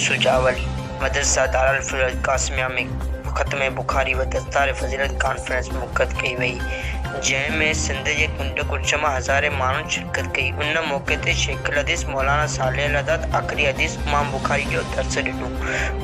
شجاع علي مدرسه دارالفنون قاسميه ۾ ختم بخاري و دستار فضيلت ڪانفرنس منعقد ڪئي وئي جنهن ۾ سنڌ جي ڪنڊ ڪڙڇ مان هزارين ماڻهن شرڪت ڪئي ان موقعي تي شيخ الحديث مولانا صالح الحداد آخري حديث امام بخاري جو درس ڏنو.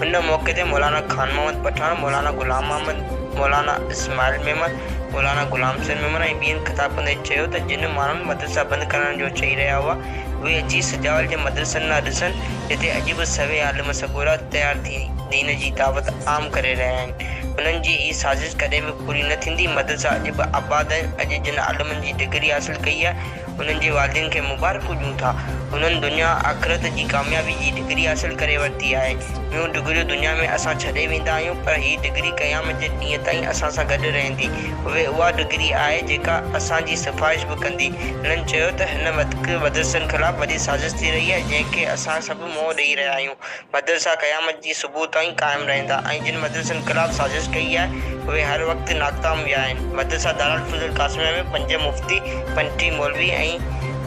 ان موقعي تي مولانا خان محمد پٺاڻ، مولانا غلام محمد، مولانا اسماعيل ميمڻ، مولانا غلام حسين ميمڻ ۽ ٻين خطاب ڪندي چيو ته جن ماڻهن مدرسا بند ڪرڻ جو چئي رهيا هئا، اهي اچي سجاول جي مدرسن ڏانهن ڏسن، جتي اڄ به سوين عالم سڳورا تيار ٿي دين جي دعوت عام ڪري رهيا آهن. انهن جي هي سازش ڪڏهن به پوري نه ٿيندي، مدرسا اڄ به آباد آهن، اڄ جن عالمن جي ڊگري حاصل ڪئي آهي، انهن جي والدين کي مبارڪون ڏيون ٿا. هنن دنيا آخرت جي ڪاميابي جي ڊگري حاصل ڪري ورتي آهي. ٻيون ڊگريون دنيا ۾ اسان ڇڏي ويندا آهيون پر هي ڊگري قيامت جي ڏينهن تائين اسان سان گڏ رهندي. اهي اها ڊگري آهي جيڪا اسان جي سفارش به ڪندي. هنن چيو ته هن وقت مدرسن خلاف وڏي سازش ٿي رهي آهي جنهن کي اسان سڀ منهن ڏئي رهيا آهيون. مدرسا قيامت جي صبح تائين قائم رهندا ۽ جن مدرسن خلاف سازش ڪئي آهي، اهي هر وقت ناڪام ويا آهن. مدرسه دارالفضل القاسميه ۾ پنج مفتي، پنجٽيهه مولوي ۽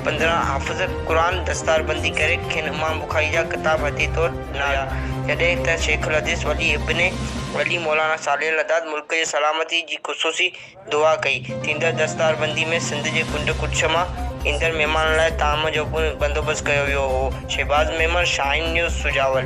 پندرهن حافظ قرآن دستاربندي ڪري کين امام بخاري جا ڪتاب هديه طور ڏنا ويا، جڏهن ته شيخ الحديث ولي ابن ولي مولانا صالح لداد ملڪ جي سلامتي جي خصوصي دعا ڪئي. ٿيندڙ دستاربندي ۾ سنڌ جي ڪنڊ ڪڙڇ مان ايندڙ مھمانن لاء طعام جو پڻ بندوبست ڪيو ويو ھو. شھباز ميمڻ، شاھين نيوز، سجاول.